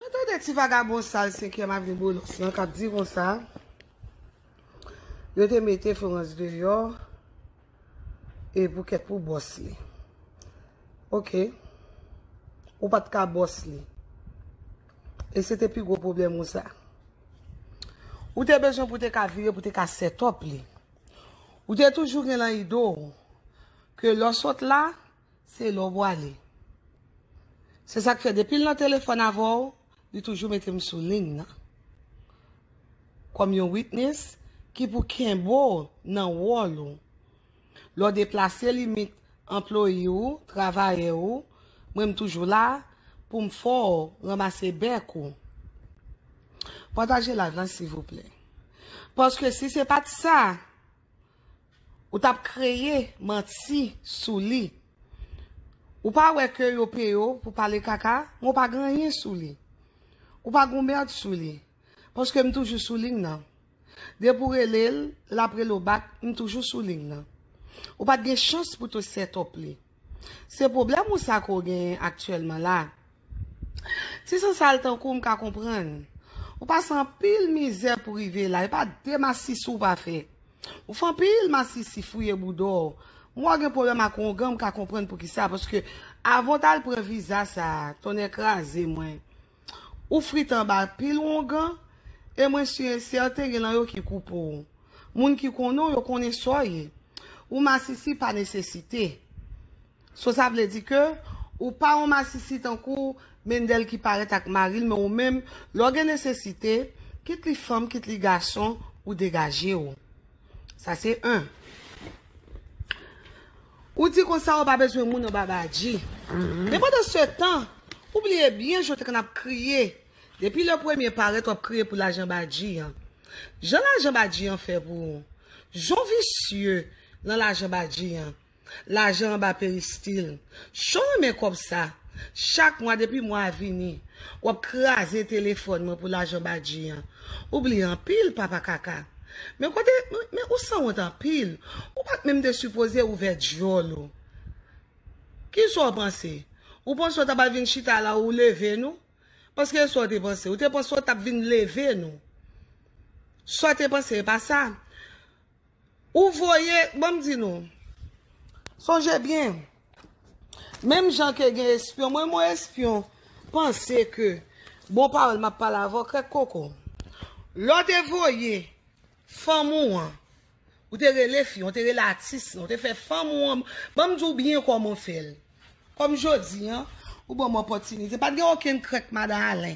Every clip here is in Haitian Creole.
Mwen tande ti vagabon sal 5 èm avni bolos lan kap di konsa yo te mete florans deyò e pou kèt pou bòs li ok ou pat ka bòs li e se te pi gwo pwoblèm ou sa ou te bezwen pou te ka vire pou te ka sètòp li ou te toujou gen lan ido ke lò sòt la se lè w bwale. Se sa k fè depi l nan telefòn avè w, li toujou mete m sou liy nan kòm yon witness ki pou kenbe w nan wòl ou. Lè w deplase limit anploye ou, travayè ou, mwen m toujou la pou m fè w ranmase bèk ou. Pataje live la sivouplè. Paske si se pa t sa. Ou tap kreye manti sou li. Ou pa wè ke yo peye w pou pale kaka, men w pa gen anyen sou li. Ou pa gen yon merd sou li. Paske m toujou sou lign nan. Depi w rele l, l ap rele w bak, m toujou sou lign nan. Ou pat gen chans pou te set up li. Se pwoblèm ou sa ke w genyen aktyèlman la? Si se sa l tankou w m ka konprann. Ou pase anpil mizè pou rive la, e pa de masisi w pa fè. Ou fè anpil masisi, fouye bouda w. M wè w gen pwoblèm ak wongan m ka konprann poukisa paske avan w t al pran viza sa a, tonnè kraze mwen, Ou frit anba pil wongan, e mwen su e sèten gen lan yo ki kou po ou. Moun ki konnen w yo konnen sa w ye. Ou masisi pa nesesite. So sa vle di ke ou pa yon masisi tankou Mendel ki parèt ak mari l men ou menm lè w gen nesesite, kit li fanm kit li gason, ou degaje w. Sa se 1. Ou di konsa ou pa bezwen moun anba badji. Men pandan se tan, ou bliye byen jan w te konn ap kriye. Depi le premye parèt w ap kriye pou lajan badji an. Jan lajan badji an fè pou ou. Jan w visye lan lajan badji an. Lajan anba peristil. Jan w renmen kòb sa. Chak mwa depi mwa a vini, w ap kraze telefòn mwen pou lajan badji an. Ou bliye anpil papa kaka. Men kote men ou sanwont anpil ou pat menm te sipoze ouvè dyòl ou kisaw panse ou panse ou taba vin chita la ou leve nou paske esa ou te panse ou te panse ou tap vin leve nou sa ou te panse epa sa Ou voye, bon m di nou, sonje byen, menm jan ke gen espyon, mwen mwen espyon, panse ke, bon pawòl m ap pale avè w krèk koko, lè w te voye fanm ou an, ou te rele fi an, ou te rele atis lan, ou te fè fanm ou an, ban m di w byen kòman w fè l, kòm jodi an, ou ban m opòtinite, pa t gen okenn krèk madan Alen,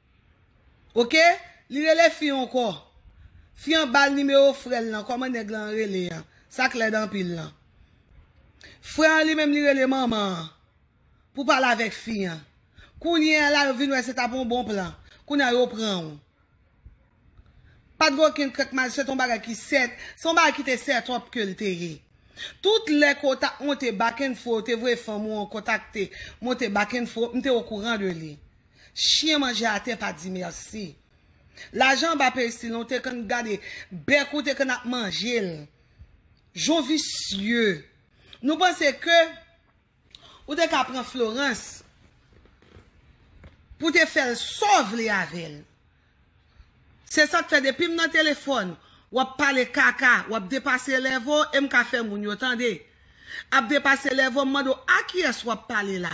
Ok li rele fi an kò. Fi an bal nimewo frèl lan kòman nèg lan rele an sak lèd anpil lan frè an li menm li rele manman an pou pale avèk fi an kounye a la yo vin wè se tap yon bon plan kounye a yo pranw pat gen okenn krèk mal se te yon bagay ki sèt se yon bagay ki te sètòp kel te ye tout lè ke ou tap monte bakenfo yo te voye fanm ou an kontakte monte bakenfo m te okouran de li. Chien manje atè pa di merci. Lajan anba peristil ou te konn gade bèk ou te konn ap manjel. Jon visye. Nou panse ke ou te ka pran Florence pou te fèl sa w vle avèl. Se sak fè depim nan telefòn wap pale kaka wap depase elèv ou em ka fè moun yo tande. Ap depase elèv ou m mande w a kiyès wap pale la.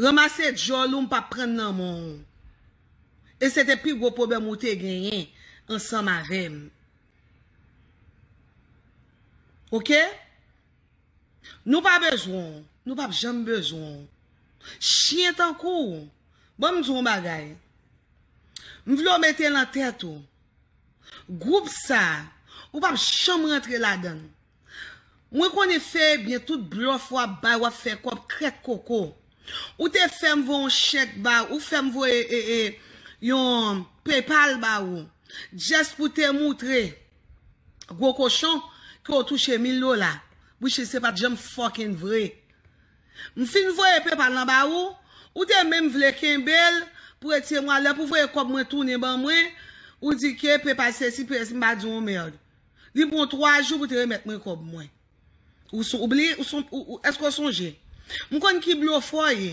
Ranmase djòl ou m pap prann nan men w. E se te pi gwo pwoblèm ou te genyen ansanm avè m. Ok? Nou pa bezwen w. Nou pap janm bezwen w. Chyen tankou w. Ban m di w yon bagay. M vle w mete nan tèt ou. Gwoup sa a, ou pap janm rantre ladan l. Mwen konnen fè ebyen tout blòf wap bay wap fè kòb trèt koko ou te fèm voye yon chèk ba ou fèm voye yon paypal ba ou just pou te moutre gwo kochon ke ou touche mil dola which is se pat janm fucking vre m fin voye paypal lan ba ou ou te menm vle kenbel pou e tiye mwa lè pou voye kòb mwen tounen ban mwen ou di ke paypal sesi paypal sesi m pa di w yon merd. Li pran w 3 jou pou te remèt mwen kòb mwen. Ou son, ou bliye, ou son, ou, èske ou sonje? M konn ki blofè w ye.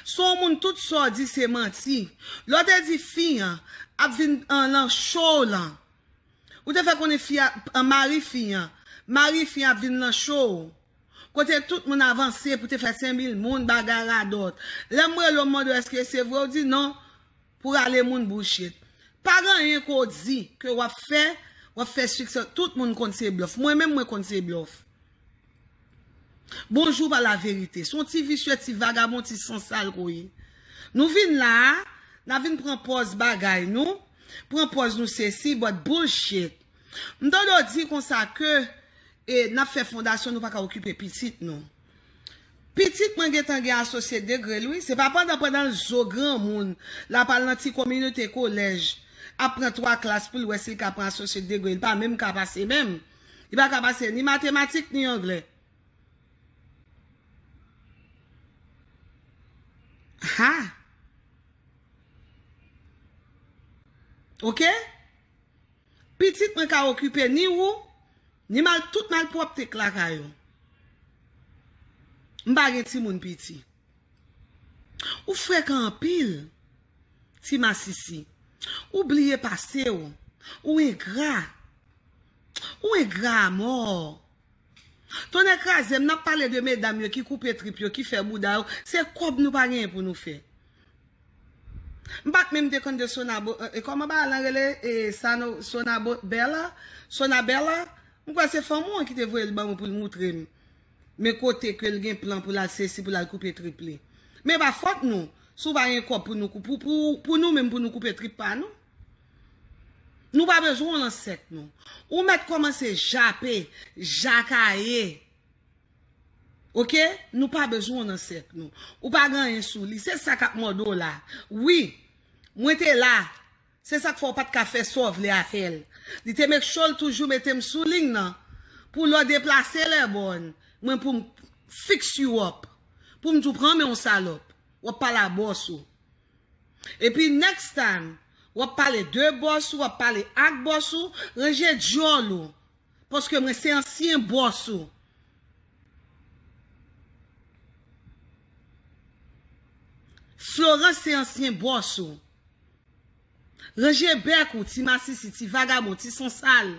Se yon moun tout sa w di se manti. Lè w te di fi an ap vin lan cho w lan, ou te fè konnen fi a, mari fi an, mari fi an ap vin lan cho w. Kote tout moun avanse pou te fè senmil moun, bagay radòt. Lè m rele w m mande w èske se vre, ou di non. Pou rale moun bullshit. Pa gen anyen ke w di, ke w ap fè, w ap fè siksè. Tout moun konn se blòf. Mwen menm mwen konn se blòf. Bonjou pa laverite. Se yon ti visye, ti vagabon, ti sansal ke w ye. Nou vin la a, n ap vin pran pòz bagay nou, pran pòz nou sesi, but bullshit. M tande w di konsa ke e n ap fè fondasyon nou pa ka okipe pitit nou. Pitit mwen gentan gen asosye degrel wi se pa pandan pandanl zo granmoun lap al nan ti kominite kolèj ap pran 3 klas poul wè sil ka pran asosye degre li pa menm ka pase menm li paka pase ni matematik ni anglè haa ok pitit mwen ka okipe ni ou Ni mal tout malpropte k lakay ou. M pa gen timoun piti. Ou frekan anpil. Ti masisi. Ou bliye pase ou. Ou engra. Ou engra a mort. Tonnè krazem nap pale de medam yo ki koupe trip yo ki fè bouda yo se kob nou pa genyen pou nou fè. M pat menm te konn de sonabo e koman bagay lan rele e sano sonabo bella sona bella m kwè se fanm ou an ki te voyel banm poul moutrem men kote kel gen plan poul al sesi poul al koupe trip li men epa fòt nou si w pa gen kòb pou nou pou pou pou nou menm pou nou koupe trip pa nou nou pa bezwen w lan sèk nou ou mèt kòmanse jape jakaye. Ok nou pa bezwen w nan sèk nou ou pa gen anyen sou li se sa kap mòde w la wi mwen te la se sak fè w pat ka fè sa w vle avè l li te make sure l toujou mete m sou liy nan pou lè w deplase lèbòn mwen pou m fix you up pou m di w pran men w salòp w ap pale a bòs ou epi next time w ap pale de bòs ou w ap pale ak bòs ou ranje dyòl ou Paske mwen se ansyen boss ou. Florence se ansyen boss ou. Ranje bèk ou ti masisi, ti vagabon, ti sansal.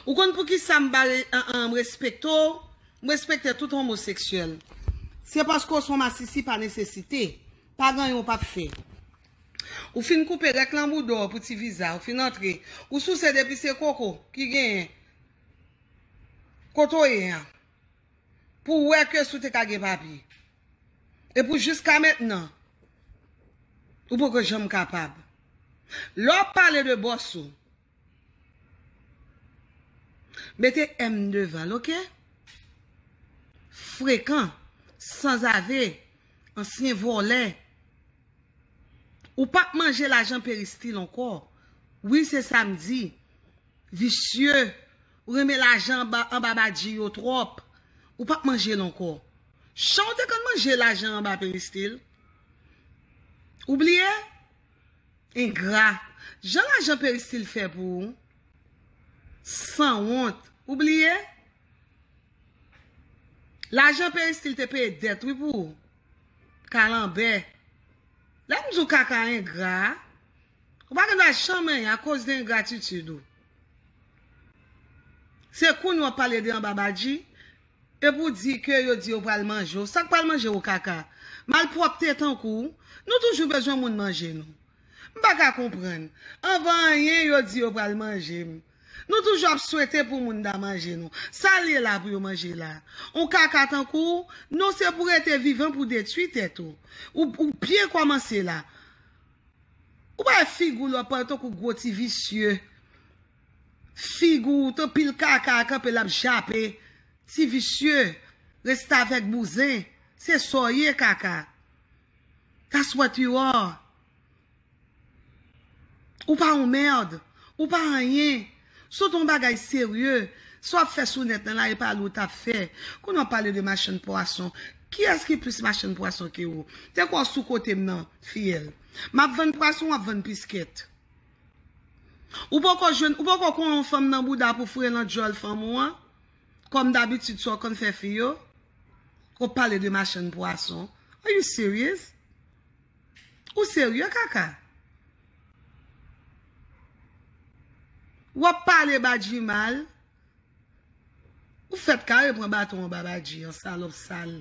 Ou konn pou ki sa m pa respekte w? M respekte tout homoseksyèl. Se paske w son masisi pa nesesite. Pa ganyen w pap fè. Ou fin koupe rèk lan boudaw pou ti viza ou fin antre ou souse depi se koko ki genyen kote ou ye an pou wè ke si ou te ka gen papye e pou jiska mentnan ou poko janm kapab lè wap pale de bòs ou. Mete M devanl ok. Frekan, sanzave, ansyen vòlè. Ou pap manje lajan peristil ankò. Wi se sam di. Visye, ou renmen lajan anba badji yo twòp. Ou pap manjel ankò. Chan ou te konn manje lajan anba peristil? Ou bliye? Engra. Jan lajan peristil fè pou ou. Sanwont. Ou bliye? Lajan peristil te peye dèt wi pou ou. Kalanbè. Lè m di w kaka engra a, ou pa gen dwa janm anyen akoz de engratitid ou. Se kounye w ap pale de anba badji. E pou di ke yo di yo pral manje w, sak pral manje w kaka? Malpwòpte tankou w, nou toujou bezwen moun manje nou. M pa ka konprann, anvan anyen yo di yo pral manje m. Nou toujou ap swete pou moun ta manje nou. Sa l ye la pou yo manje la? On kaka tankou w, non se pou rete vivan pou detwi tèt ou. Ou byen kòmanse la. Ou pa wè figi w lò pa w tankou gwo ti visye. Fig ou ton pil kaka a kanpe lap jape ti visye restavèk bouzen se sa w ye kaka that's what you are ou pa yon merd ou pa anyen si w te yon bagay serye sa w ap fè sou nèt lan la e pa li w tap fè kounye a w pale de machann pwason kiyès ki plis machann pwason ke ou te kwè w sou kote m nan fiyèl map vann pwason wap vann piskèt. Ou poko jwenn, ou poko kon yon fanm nan bouda pou foure lan dyòl fanm ou an? Kòm dabitid sa w konn fè fi yo? Ou pale de machann pwason. Are you serious? Ou serye kaka? W ap pale Badji mal? Ou fèt kare pran baton anba Badji an, salòp sal.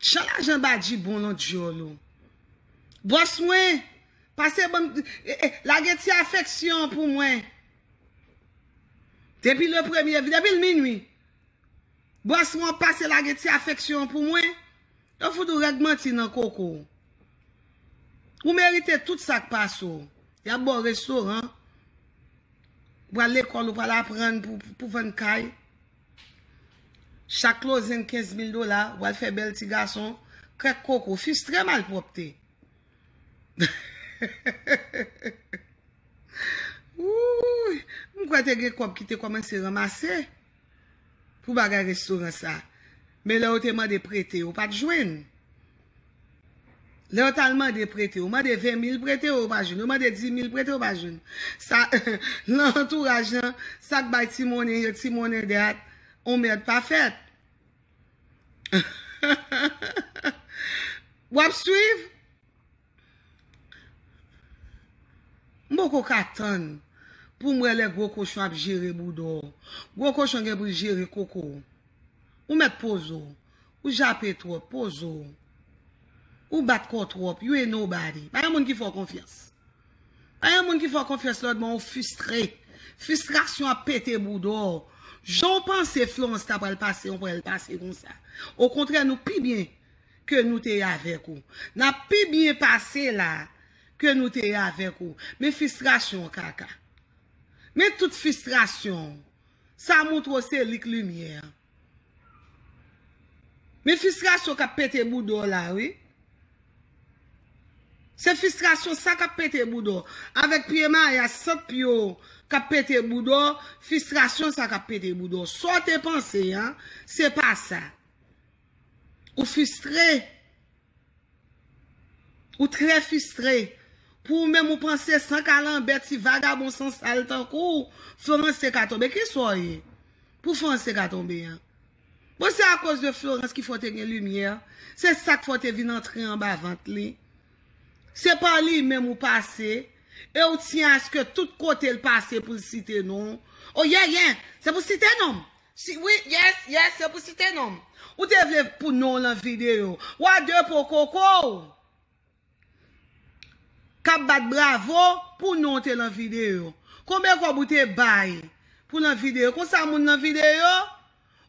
Chan lajan Badji bon lan dyòl ou. Bòs mwen, Pase banm lage ti afeksyon pou mwen. Depi le premye depi l minwi. Bòs mwen pase lage ti afeksyon pou mwen. Yo fout ou règ manti nan koko w. Ou merite tout sa k pase w. Y ap ba w restoran. Ou pral lekòl ou pral aprann pou vann kay. Chak klozen 15 mil dola. Ou al fè bèl ti gason. Krèk koko. Fistre malpwòpte. Wouuyy m kwè te gen kòb ki te kòmanse ranmase pou bagay restoran sa men lè yo te mande prete yo pat jwenn lè yo tal mande prete yo mande 20 mil prete yo yo pa jwenn yo mande 10 mil prete yo pa jwenn sa lan antouraj lan sak bay ti monnen yo ti monnen dat on mèd pa fèt. Wap swiv? M poko ka tann pou m wè lè gwo kochon ap jere bouda w. Gwo kochon gen pou l jere koko w. Ou mèt poze w. Ou jape twòp. Poze w. Ou bat kò w twòp. You ain't nobody. Ba yon moun ki fè w konfyans. Pa yon moun ki fè w konfyans lòt bon ou fistre. Fistrasyon ap pete bouda w. Jan w panse Florence ta pral pase yon pral l pase konsa. Okontrè nou pi byen ke nou te ye avèk ou. N ap pi byen pase la ke nou te ye avèk ou. Men fistrasyon w kaka. Men tout fistrasyon w. Sa moutre w se li k limyè an. Men fistrasyon kap pete bouda w la wi. Se fistrasyon sa kap pete bouda w. Avèk pye maya sant pye w kap pete bouda w, fistrasyon sa kap pete bouda w. Sa w te panse an, se pa sa. Ou fistre. Ou trè fistre. Pou ou menm ou panse san kalanbè ti vagabon san sal tankou w, Florence te ka tonbe. Ki sa w ye? Pou Florence te ka tonbe an. Bon se akoz de Florence ki fè w te gen limyè. Se sa k fè w te vin antre anba vant li. Se pa li menm ou pase. E w tyen aske tout kote l pase pou l site non w. O yè yè! Se pou w site non m! Si wi yes yes se pou site nom. Ou te vle pou non lan video. Wa de po koko w kap bat bravo pou non te lan video. Konbe kob ou te bay pou lan video. Konsa moun lan video?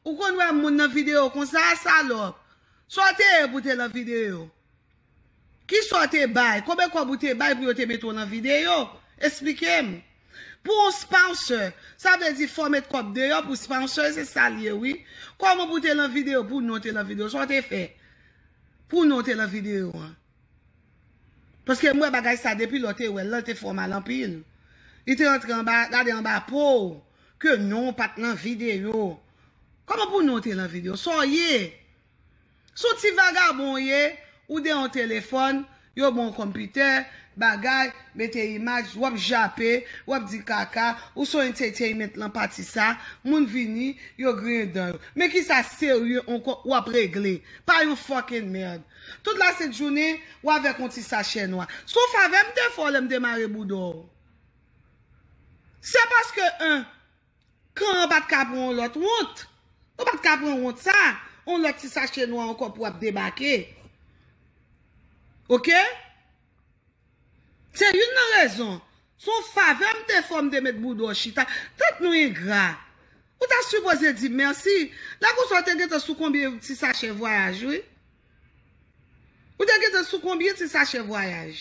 Ou konn wè moun lan video konsa salop. Sa w te ye pou te lan video. Kisa w te bay? Konbe kòb ou te bay pou yo te mete w nan videyo? Esplike m. Pou yon sponsor, sa vle di fò w met kòb deyò pou sponsor, se sa l ye wi. Kòman pou w te lan videyo, pou non w te lan videyo? Sa w te fè? Pou non w te lan videyo an? Paske m wè bagay sa depi lè w te wè l lan, l te fè w mal anpil. Li te antre anba, gade anba po w, ke non w pa t lan videyo. Kòman pou non w te lan videyo? Sa w ye? Son ti vagabon ou ye, ou de yon telefòn, yo ban w konpitè, bagay, mete imaj, wap jape, wap di kaka, ou son entertainment lan pati sa, moun vini, yo griyen dan yo. Men kisa serye ankò ou ap regle? Pa yon fucking merd. Tout la sent jounen, ou avèk yon ti sachè nwa. Son favè m te fè w lè m te mare bouda w. Se paske 1. Can an pat ka pran yon lòt wont. Ou pat ka pran wont sa, yon lòt ti sache nwa ankò pou ap debake. Ok? Se youn nan rezon. Se yon favè m te fè w m te met bouda w chita. Tèt nou engra. Ou ta sipoze di mèsi. Lè konsa w te gentan sou konbyen ti sachè vwayaj wi. Ou te gentan sou konbyen ti sachè vwayaj?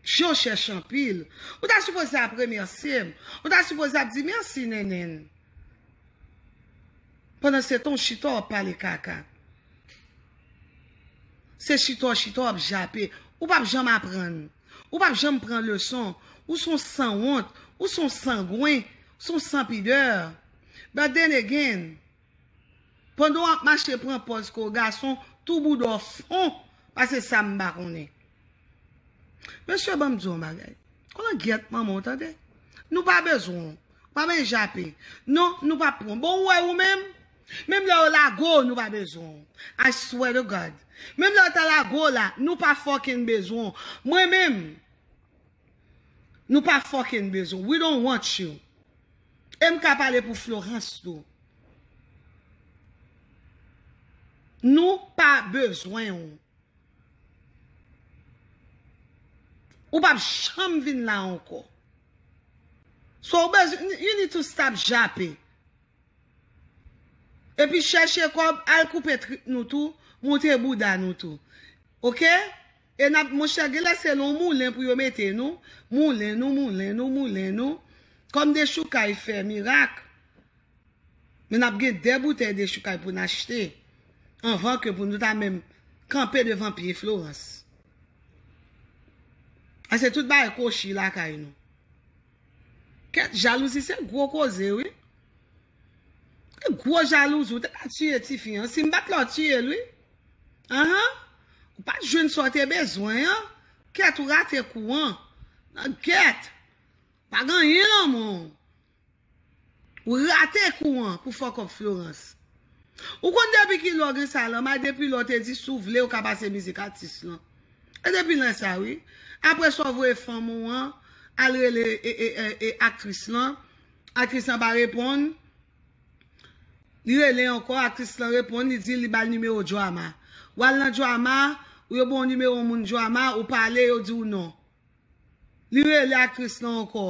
Jan w chèch anpil. Ou ta sipoze ap remèsye m. Ou ta sipoze ap di mèsi Nènèn. Pandansetan w chita w ap pale kaka. Se chita w chita w ap jape. Ou pap janm aprann. Ou pap janm pran leson. Ou son sanwont. Ou son sangwen. Ou son sanpidè. But then again. Pandan wap mache pran pòz kou gason tou bouda w fon pase sa m pa konnen. Mesye banm di w yon bagay Kon langyèt manman w tande Nou pa bezwen w Pa men jape non nou pap pran bon ou wè ou menm Menm lè yo lago w nou pa bezwen w I swear to God Menm lè yo ta lago w la nou pa fucking bezwen w Mwen menm Nou pa fucking bezwen w We don't want you. MK pale pou Florence tou. Nou pa bezwen ou. Ou pap janm vin la anko. So ou bezwen, you need to stop jape. E pi chèche kob, al koupe trip nou tou, moute bouda nou tou. Ok? E nap monchè genlè se non moulen pou yo mete nou, moulen nou, moulen nou, moulen nou, kòm dechoukay fè mirak, men nap gen 2 boutèy dechoukay pou n achte anvan ke pou nou ta menm kanpe devan pye Florans. A se tout bagay kwochi lakay nou. Kèt jalouzi se gwo koze wi. Ou gwo jalouse ou te ka tiye tifi an sim bat la ou tiyel wi ahan ou pat jwenn sa ou te bezwen an kèt ou rate kou an nan gèt pa gen anyen nan men w ou rate kou an pou fòk òp Florence ou konn depi kilè ou gen sa lanma depi lè ou te di si w vle ou ka pase mizik atis lan e depi lè sa wi aprè sa ou voye fanm ou an al rele aktris lan Aktris lan pa reponn. Li rele ankò, aktris lan reponn, li di li ba l nimewo Joama. Ou al nan Joama, ou yo ba w nimewo yon moun Joama, ou pale, yo di w non. Li rele aktris lan ankò.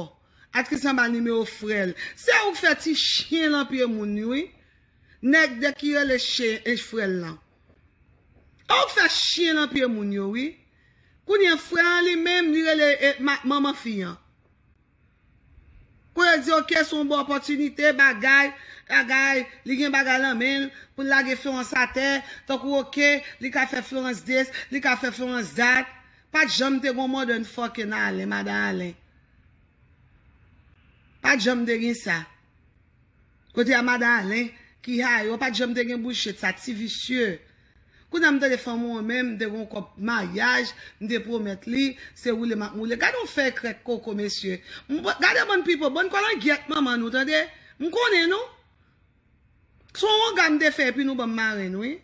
Aktris lan ba l nimewo frè l. Se ou k fè ti chyen lan pye moun wi. Nèg de ki rele chyen frè l lan. Ou k fè chyen lan pye moun yo wi. Kounye frè an li menm, li rele manman fi an. Pou yo di ok son bon opòtinite bagay bagay li gen bagay lan menl poul lage Florence atè tankou ok li ka fè Florence this li ka fè Florence that pat janm te gon modern fucking Alain madan Alain pat janm te gin sa. Kote a madan Alain ki ha yo pat janm te gen bouch chet sa ti visye Kounye a m tande fanm ou an menm m te gon kòb maryaj m te pwomèt li se woule map moule gade yon fèy krèk koko mesye m gade bann pipo bann kolangyèt manman nou tande m konnen nou se yon wonga m te fè epi nou banm marenn wi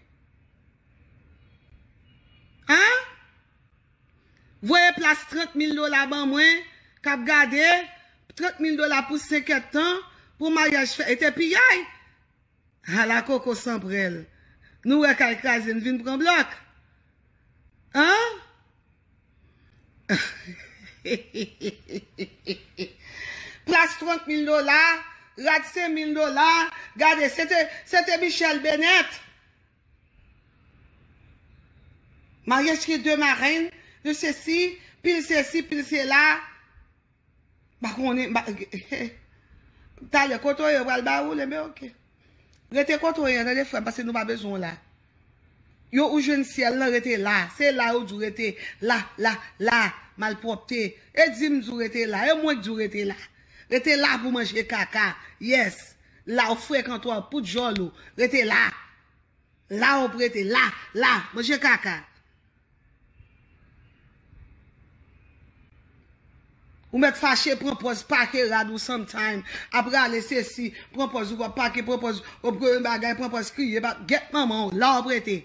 aa. Voye plas 30 mil dola ban mwen kap gade 30 mil dola pou 5 et tan pou maryaj fè ete piyay hala koko san prèl nou wè kay kraze n vin pran blòk anheheheheheh plas 30 mil dola rad 5 mil dola gade se te se te michèl benèt Maryaj ki de marenn, de sesi, pil sesi, pil sela. Mpa konnen, mpa he. Talè kote ou ye yo pral ba ou le men ok. Rete kote ou ye an tande frè m pase nou pa bezwen w la. Yo ou jwenn syèl lan rete la. Se la yo di w rete. La, la, la. Malpwòpte. E di m di w rete la. E mwen k di w rete la. Rete la pou w manje kaka. Yes. La ou frekan twa pou djòl ou rete la la ou prete la la manje kaka ou mèt fache pran pòz pake rad ou some time ap rale sesi pran pòz ou wap pake pran pòz ou pran yon bagay pran pòz kriye pa gèt manman ou la ou prete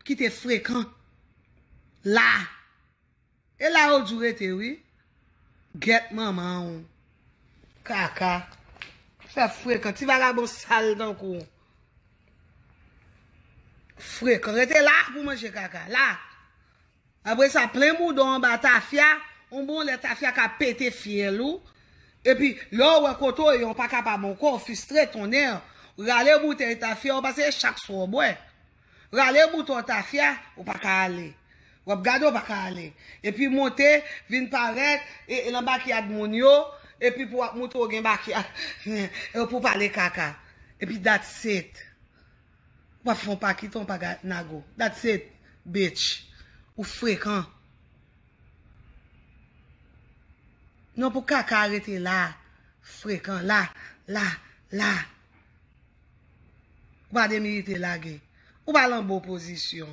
kite frekan la. E la ou djou rete wi. Gyèt manman ou. Kaka. Fè frekan. Ti vagabon sal tankou ou. Frekan. Rete la pou manje kaka. La. Apre sa plen boudon anba tafya. Yon bon lè tafya ka pete fyèl ou. E pi lè ou wè kote ou ye ou pa kapab ankò ou fistre tonnè. Rale boutèy tafya ou pase e chak swa ou bwè. Rale bouton tafya ou pa ka ale. W ap gade ou pa ka ale. Epi monte vin parèt lan bakyad moun yo epi pou w ap moutre w gen bakyad epi pou w pale kaka. Epi that's it. Ou pa fè yon pa kite yon pa ga nago. That's it bitch. Ou frekan. Non pou kaka a rete la. Frekan. La. La. La. Ou pa demirite lage. Ou pa lan bon pozisyon.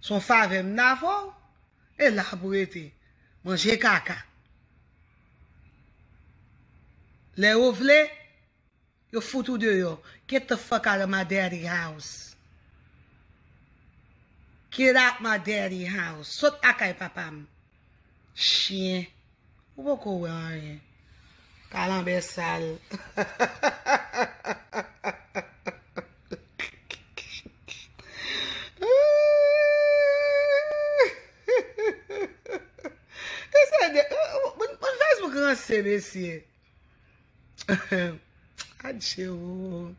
Se yon favè m ta fè w, e la pou rete. Manje kaka. Lè yo vle, yo fout ou deyò. Get the fuck out of my daddy house. Get out my daddy house. Sot lakay papa m. Chyen. Ou poko wè anyen. Kalanbè sal. Moun Facebook ranse mesye. Adje ou.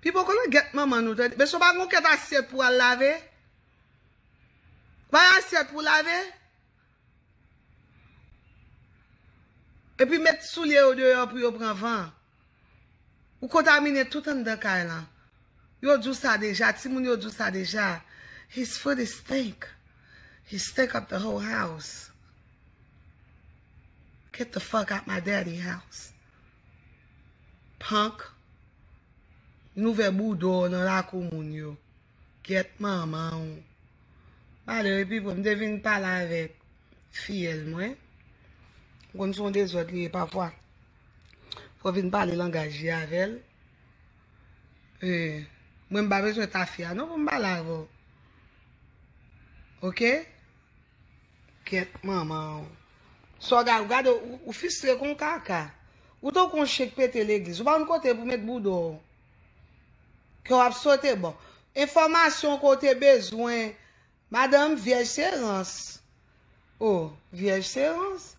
Pi poko nan gèt manman nou tande. Mesye ou pa gon kèt asyèt pou al lave? Bay asyèt pou lave? Epi met soulye yo deyò pou yo pran van. Ou kontamine tout anndan kay lan. Yo di w sa deja, timoun yo di w sa deja. His foot is stink. He stink up the whole house. Get the fuck out my daddy house. Punk. N ouvè bouda w nan lakou moun yo. Gyèt manman w. Pale wi Pipo, m te vin pale avèk fiyèl mwen. M konn se yon dezòd li ye pafwa. Fò w vin pale langaj li avè l. Mwen m pa bezwen tafya non pou m pale avè w. Ok? Gyèt manman w. Sa w gade, w gade, w fistre kon kaka. Ou tankou yon chen k pete legliz. Ou pa konn kote pou met bouda w. Ke wap sote bon. Enfòmasyon ke w te bezwen. Madanm vyèj se rans. Oh vyèj se rans.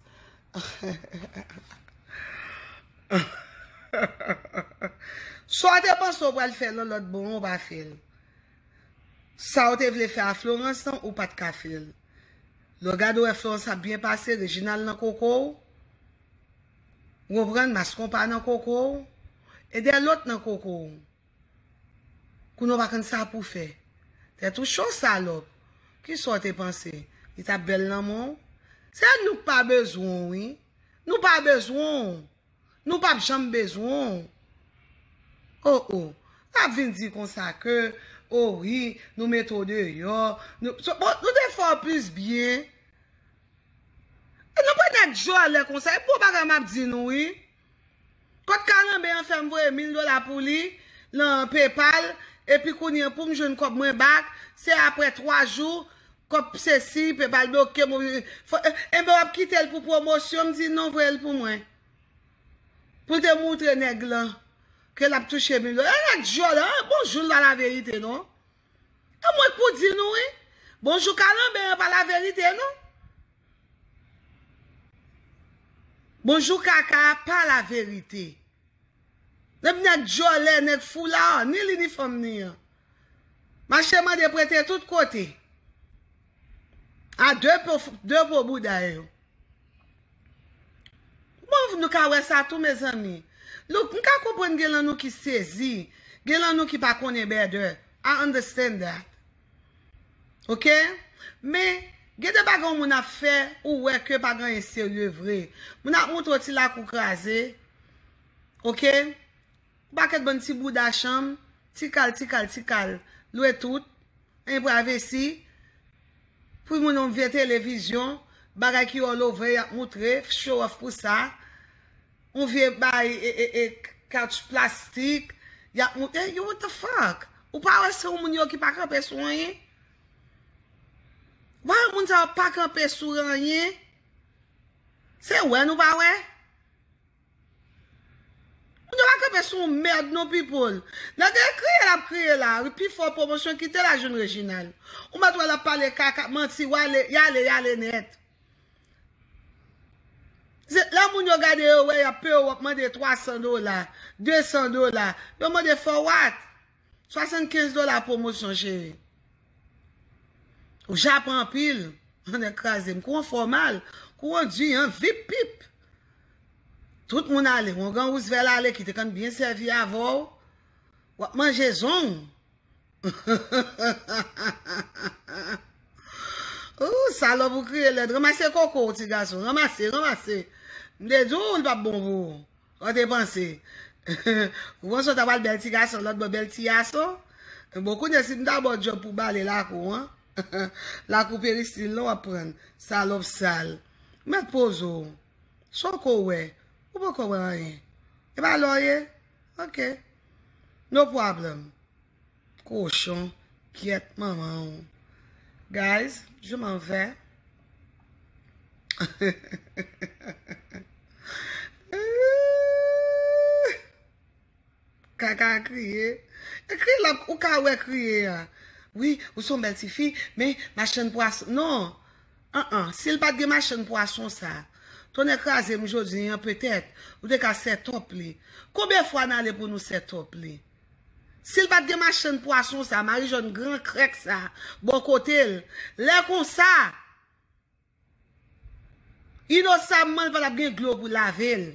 Sa w te panse w pral fè lòlòt bon an ou pa fè l. Sa w te vle fè a Florence lan ou pat ka fè l. Lè w gade w wè Florence ap byen pase, Reginald nan koko w. Ou konprann? Mas konpa nan koko w, e dè lòt nan koko w. Kounye a w pa konn sa pou w fè. Tèt ou cho salòp. Ki sa w te panse? Li t ap bèl nan men w? Se nou k pa bezwen w wi. Nou pa bezwen w. Nou p ap janm bezwen w. O o. L ap vin di konsa ke, o wi, nou mete w deyò. Nou te fè w plis byen. Nou pa ta djòlè konsa, e bon bagay map di nou wi. Kot kalanbe an fèm voye 1000 dola pou li nan paypal epi kounye poum jwenn kob mwen bak se aprè 3 jou kob sesi paypal blokem ou enben wap kitel pou pwomosyon mdi non voyel pou mwen poul te moutre nèg lan ke lap touche 1000 dola ala djòlè an bon joul pa laverite non. A mwen k pou di nou wi. Bonjou kalanbè an pa la verite non. Bonjou kaka a pa la verite. Nèg vini ak djòlè nèg foulard ni li ni fanm ni an. Mache mande prete tout kote. A de po bouda yo. Bon nou ka wè sa tou mezanmi. Nou m ka konprann gen lan nou ki sezi, gen lan nou ki pa konnen better. I understand that. Ok? Men gen de bagay yon moun ap fè ou wè ke pa gen anyen serye vre. Moun ap montre w ti lakou kraze. Ok? Pakèt bann ti bouda chanm, ti kal ti kal ti kal lwe tout, en prayvesi, pri moun yon vye tele vizyon, bagay ki all over yap moutre, f show off pou sa, yon vye bay e e e couch plastik, yap mou e yo what the fuck? Ou pa wè se yon moun yo ki pa kanpe sou anyen? Why yo moun sa yo pa kanpe sou anyen? Se wè nou pa wè? Moun yo pa kanpe sou yon merd non people. Nan de kriye lap kriye la pi fò pwomosyon kite la jwenn Reginald. Ou mèt wè lap pale kaka manti wale yale yale nèt. Se lè moun yo gade yo wè yap pew wap mande 300 dola 200 dola yo mande for what? 75 dola pwomosyon cheri. Ou japan anpil. An e kraze m. Kou an fòmal. Kou an di an. Vip pip. Tout moun ale. Wongan wousvel ale ki te kan byen sèvi avè w. W ap manje zong. Ooh salòp ou kriye lèd. Ranmase koko w ti gason. Ranmase, ranmase. M te di w li pa p bon pou ou. Ou te panse Ou panse ou ta pral bèl ti gason lòt bò bèl ti yason Bon kounye si m ta ba w djòb pou w bale lakou an Lakou peristil lan w ap pran l Salòp sal Mèt poze w Sa w ko wè Ou poko wè anyen E pa la w ye Ok No problem Kochon gyèt manman w. Guys je m'en vais. Kaka a kriye. E kriye la ou ka wè kriye a. Wi ou son bèl ti fi men machann pwason. Non an an si l pat gen machann pwason sa. Tonnè kraze m jodi an petèt ou te ka set up li. Konbyen fwa n ale pou nou set up li. Sil pat gen machann pwason sa, marijòn gran krèk sa bò kotel, lè konsa inosamman li patap gen dlo pou lavel.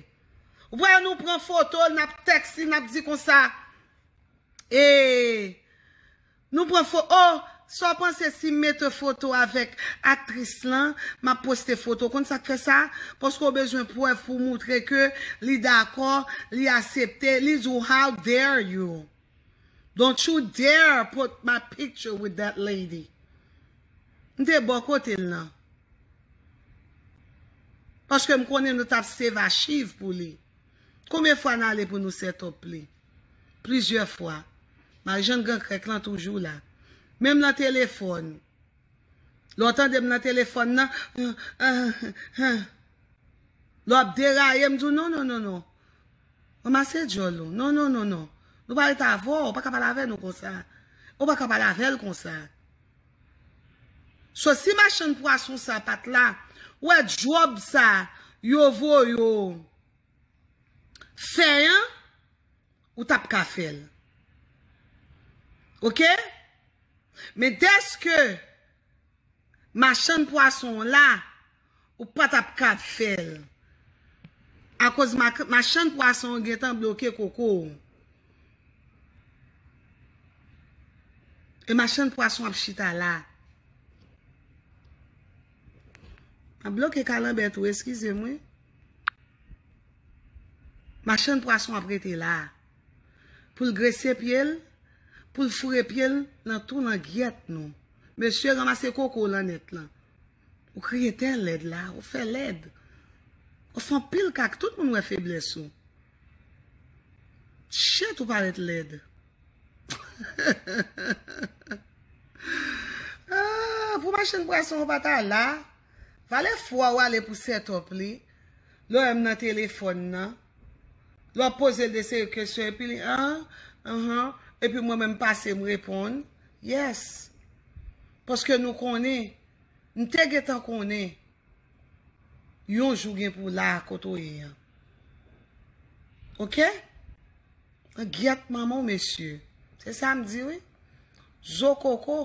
Ou pa wè nou pran fotol nap tèks li nap di konsa ee. Nou pran fo oh Saw panse sim mete foto avek aktris lan map poste foto ou konn sak fè sa paske ou bezwen prèv pou moutre ke li dakò li asepte li di w how dare you don't you dare put my picture with that lady m te bò kote l nan paske m konnen nou tap save achiv pou li konbyen fwa nale pou nou set up li. plizyè fwa. Marijann gran krèk lan toujou la. Menm nan telefòn. Lè w tande m nan telefòn nan, Anhh. Lè w ap deraye, m di w non, non, non, non. Ranmase djòl ou. Non, non, non, non. Nou pa ret avè w. Ou pa ka pale avè nou konsa. Ou pa ka pale avè l konsa. So si machann pwason sa pat la, ou wè djòb sa yo voye w. fè an ou tap ka fèl ok men dèske machann pwason an la ou pa tap ka fèl akoz machann pwason an gentan bloke koko ou e machann pwason ap chita la map bloke kalanbè tou eskize m wi. Machann pwason ap rete la a pou l grese pye l, pou l foure pye l nan tou langyèt nou. Mesye ranmase koko w lan nèt lan. Ou kriye tè lèd la a, ou fè lèd. Ou fè anpil kaka, tout moun wè feblès ou. Chet ou parèt lèd. Pou machann pwason ou pa ta la. Vale fwa ou ale pou setup li, lè m nan telefòn nan, lè w ap poze l de seri kesyon epi li aah uhmm epi mwen menm m pase m reponn, yes. Paske nou konnen, m te gentan konnen yon jou gen pou w la a kote w ye an. Ok? An gyèt manman w mesye. Se sa m di wi. Zo koko.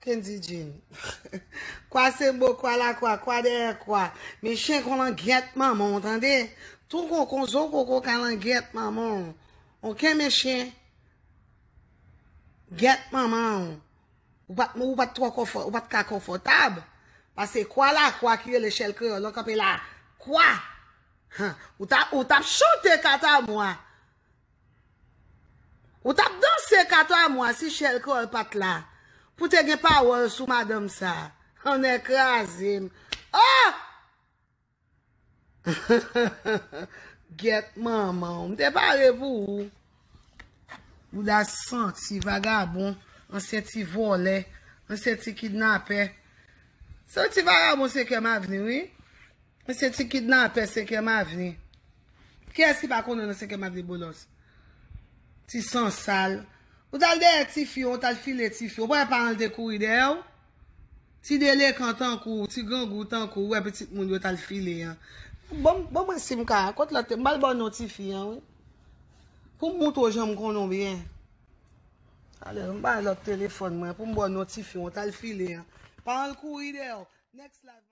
Kendy Jean. Kwa se bo kwa la kwa, kwa dèyè kwa. Men chen kon langyèt manman w tande. Ton koko zo koko ka langyèt manman w. Ok men chen. Gyèt manman w. Ou pat ou pat twò konfò, ou pat ka konfòtab. Pase kwa la kwa ki rele chèl kreyòl lan kanpe la kwa. Han, ou ta ou tap chante katamwa. Ou tap danse kato a mwa si chèl krèol pat la pou te gen pawòl sou madanm sa oh nè krazem oh gyèt manmanw m te pare pou ou bouda santi vagabon ansyen ti vòlè ansyen ti kidnapè santi vagabon se kèm avni wi. Mesye ti kidnapè 5 èm avni. Kiyès ki pa konnen nan 5 èm avni bolos. Ti san sal. Ou tal dèyè ti fi, ou tal file ti fi. Ou pa wè paran l te kouri dèyè w? Ti delekan tankou w, ti grangou tankou w, ou wè pitit moun yo tal file an. Bon bon mwen sim ka, kot lòt te, m bal baw non ti fi an wi. Poum moutre w janm konnen w byen. Talè m bay lòt telefòn mwen poum baw non ti fi, ou tal file an. Paran l kouri dèyè w. Next live.